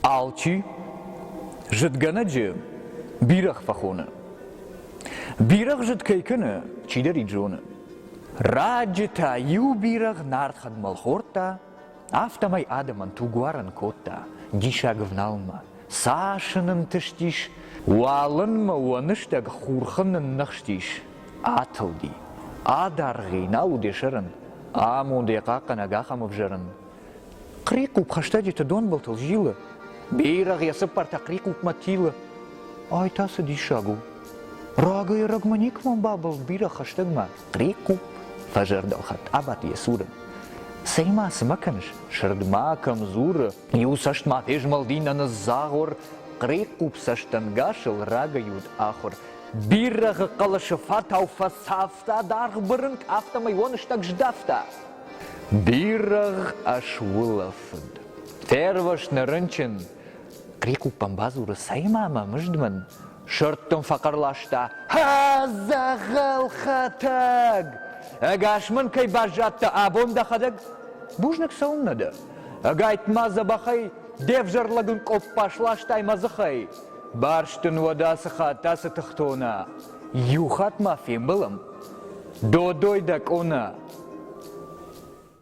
Алчи зыдгӕнӕджы бирӕгъ фӕхоны. Бирӕгъ зыд кӕй кӕны, чидӕр ид зоны. Раджы та иу бирӕгъ нард хӕдмӕл хордта, Афтӕмӕй адӕмӕн тугуарӕн кодта диссаг ӕвналынмӕ. Цас ын ӕнтыстис, уалынмӕ уӕныстӕг хурхы нынныхстис, атылди. Адӕргъи нал уыд йӕ сӕрӕн, амонд йӕ хъахъхъӕнӕг ахӕм ӕвзӕрын. Хърихъупп хӕстӕджыты донбылтыл зилы, бирӕгъ йӕ цыппӕртӕ хърихъуппмӕ тилы. Ай та цы диссаг у! Рагӕй-ӕрӕгмӕ никӕмӕн бабӕлд бирӕ хӕстӕгмӕ. Прикъу фӕзӕрдӕлхатт абадт йӕ цуры. Цӕй-ма, цы ма кӕныс? Сырд ма кӕм дзуры? Иу цӕст ма фезмӕлди нӕ ныдздзагъор, Хърехъхъуп цӕстӕнгасыл рагӕй уыд ахуыр. Бирӕгъы хъӕлӕсы фатау фӕцавта даргъ бырынкъ, афтӕмӕй уоныстӕг здӕхта. Бирӕгъ ӕсулӕфыд. Фервӕзт нӕ рынчын. Хърехъхъупӕн бадзуры, Цӕй-ма, мӕ мызд мын, Сырд дын фӕхъӕр ласта: «Зӕгъӕл хӕтӕг! Ӕгас мын кӕй баззадтӕ абон дӕхӕдӕг? Бузныг цӕуыннӕ дӕ? Ӕгайтма дзӕбӕхӕй де взӕр лӕгын къоппас ластай мӕ дзыхӕй. Барст дын уӕд ацы хатт ацы тыхтона. Иу хатт ма фембӕлӕм. Додой дӕ къона!»